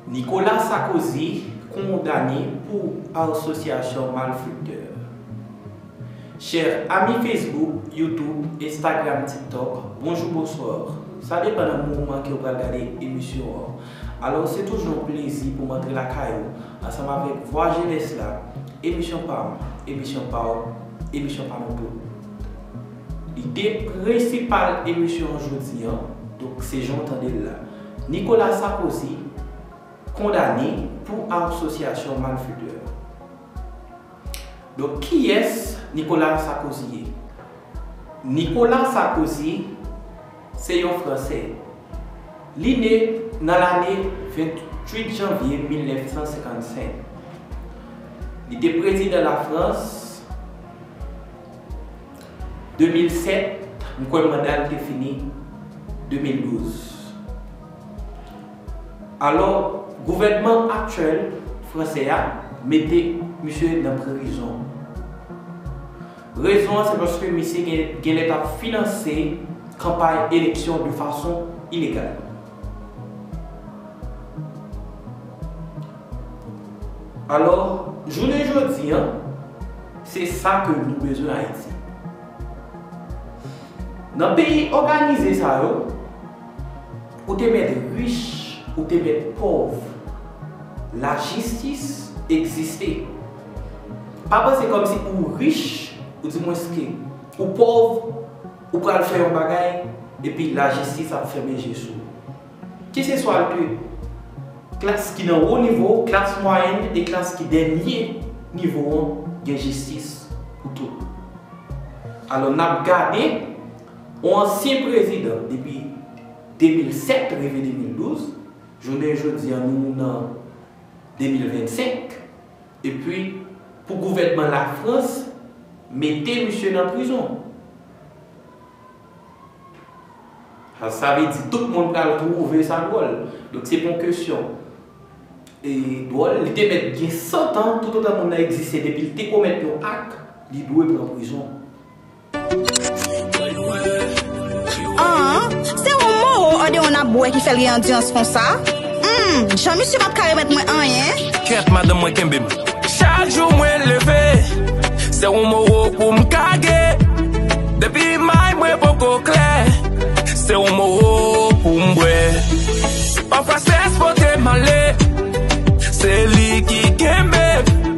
Nicolas Sarkozy kondane pou asosyasyon malfektè. Chèr ami Facebook, YouTube, Instagram, TikTok, bonjou bonsoir. Sa depan nan moman ke ou pral gade emisyon an. Alò se toujou yon plezi pou m antre lakay ou ansanm avèk Vwa Jenès la, emisyon pa m, emisyon pa w, emisyon pa nou tout. Ide prensipal emisyon an jodi an, donk se jan w tande l la, Nicolas Sarkozy kondane pou asosyasyon malfetè. Donk kiyès Nicolas Sarkozy ye? Nicolas Sarkozy se yon franse. Li ne nan lane 28 janvye 1955. Li te prezidan Lafrans. 2007, m kwè manda l te fini 2012. Alò, gouvènman aktyèl fransè a mete misye nan prizon. Rezon an se paske misye genlè t ap finanse kanpay eleksyon de fason ilegal. Alò, jounen jodi an, se sa ke nou bezwen Ayiti. Nan peyi òganize sa yo, ou te mèt rich, ou te mèt pòv, lajistis egziste. Pa panse kòmsi ou rich, ou di mwenske ou pòv, Ou pral fè yon bagay epi lajistis ap fèmen je sou ou. Keseswa l ke klas ki nan wo nivo, klas mwayèn e klas ki dènye nivo an gen jistis pou tout moun. Alò n ap gade yon ansyen prezidan depi 2007 rive 2012, jounen jodi a nou nan 2025, Epi pou gouvènman lafrans mete misye nan prizon. Sa sa vle di tout moun pral twouve sa dwòl. Donk se pon kesyon e dwòl. Li te mèt gen 100 tan toutotan moun nan egziste depi li te komèt yon ak li dwe pran prizon. Aah se yon moro odeon nap bwè ki fèl gen andirans konsa humm jan misye pap ka remèt mwen anyen. Kèt madanm mwen kenbem. Chak jou mwen leve se yon moro poum kage depi may mwen poko klè se yon moro poum bwè pafwa strès potem ale se li ki kenbem.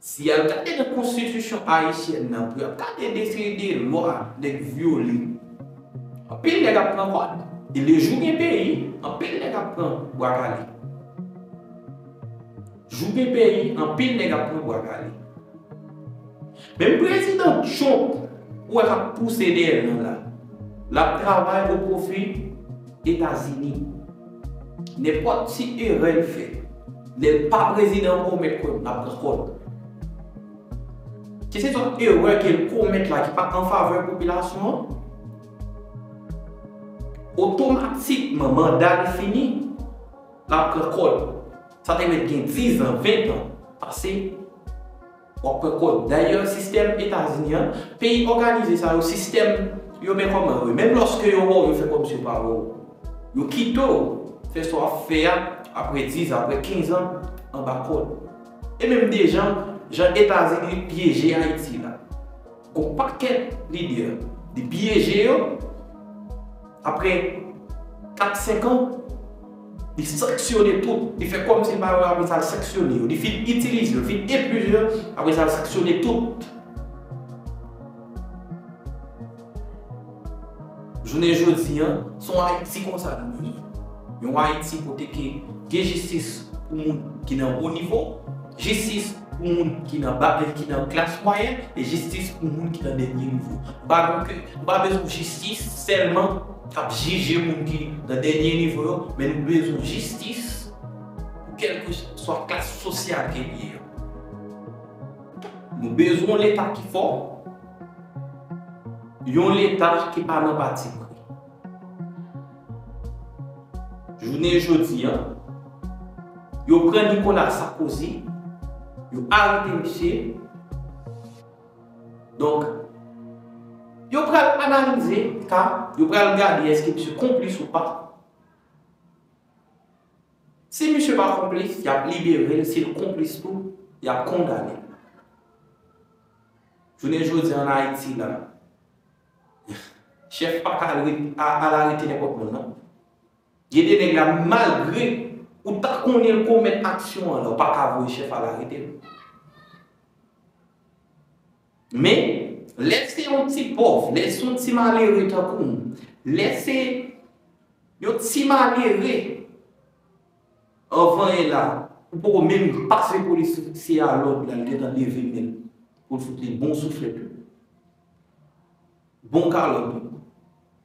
Si yap gade nan konstitisyon ayisyèn nan pou yap gade defini de lwa nèg vyole anpil nèg ap pran kòd e lejou gen peyi anpil nèg ap pran bwa kale jou gen peyi anpil nèg ap pran bwa kale menm prezidan trump ou wè kap pouse dèyè nou la lap travay o pwofi etazini. Nenpòt ti erè l fè. Lè l pa prezidan ankò ou mèt kwè m l ap pran kò l. Keseswa erè ke l komèt la ki pa anfavè popilasyon an, otomatikman manda l fini, l ap pran kò l. Sa te mèt gen dizan, ventan pase. W ap pran kòd. Dayè, sistèm Etazini an, peyi òganize sa yo, sistèm yo men kòman yo ye. Menm lòske yo wè w, yo fè kòmsi yo pa wè w. Yo kite w fè sa w ap fè a apre dizan, apre kenzan anba kòd. E menm dejan, jan Etazini pyeje Ayiti la. Gon pakèt lidè li pyeje yo, aprè 4 5 an li sanksyone tout, li fè kòm si l pa yo aprè sa l sanksyone yo, li fin itilize yo, fin epuize yo aprè sa l sanksyone tout. Jounen jodi an, se yon Ayiti konsa nou vle. Yon Ayiti kote ke gen jistis pou moun ki nan wo nivo, jistis pou moun ki nan ba, ki nan klas mwayèn, e jistis pou moun ki nan dènye nivo. Nou pa vle ke, nou pa bezwen yon jistis sèlman k ap jije moun ki nan dènye nivo yo, men nou bezwen yon jistis pou kèlkeswa klas sosyal ke li ye an. Nou bezwen yon Leta ki fò. Yon Leta ki pa nan patipri. Jounen jodi a, yo pran Nicolas Sarkozy, yo arete misye. Donk, yo pral analize ka, yo pral gade èske misye konplis ou pa. Si misye pa konplis, y ap libere l, si l konplis tou, y ap kondane l. Jounen jodi an Ayiti la, chèf pa ka al arete nenpòt moun non. Gen de nèg la malgre ou ta konnen l komèt aksyon an la ou pa ka voye chèf al arete l. Men, lè se yon ti pòv, lè se yon ti malere tankou m, lè se yon ti malere, Anvan e la, ou poko menm pase polisye a lòd la li gentan leve men l pou l fout li bon souflèt yo, bon kalòt yo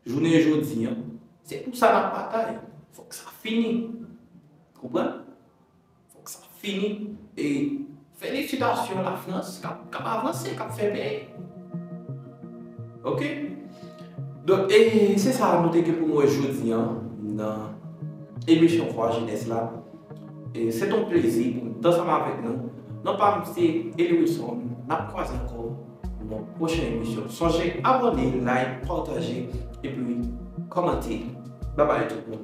jounen jodi an. Se pou sa n ap batay. Fòk sa fini. Konprann? Fòk sa fini e. Felisitasyon la France kap avanse kap fè peyi ok donk e se sa nou te gen pou nou wè jodi an nan emisyon vwa jenès la e se ton plezi pou nou ansanm avèk nou non pa m se Eli Wilson nap kwaze ankò nan pwochen emisyon sonje abòne like pataje epi kòmante babay tout moun.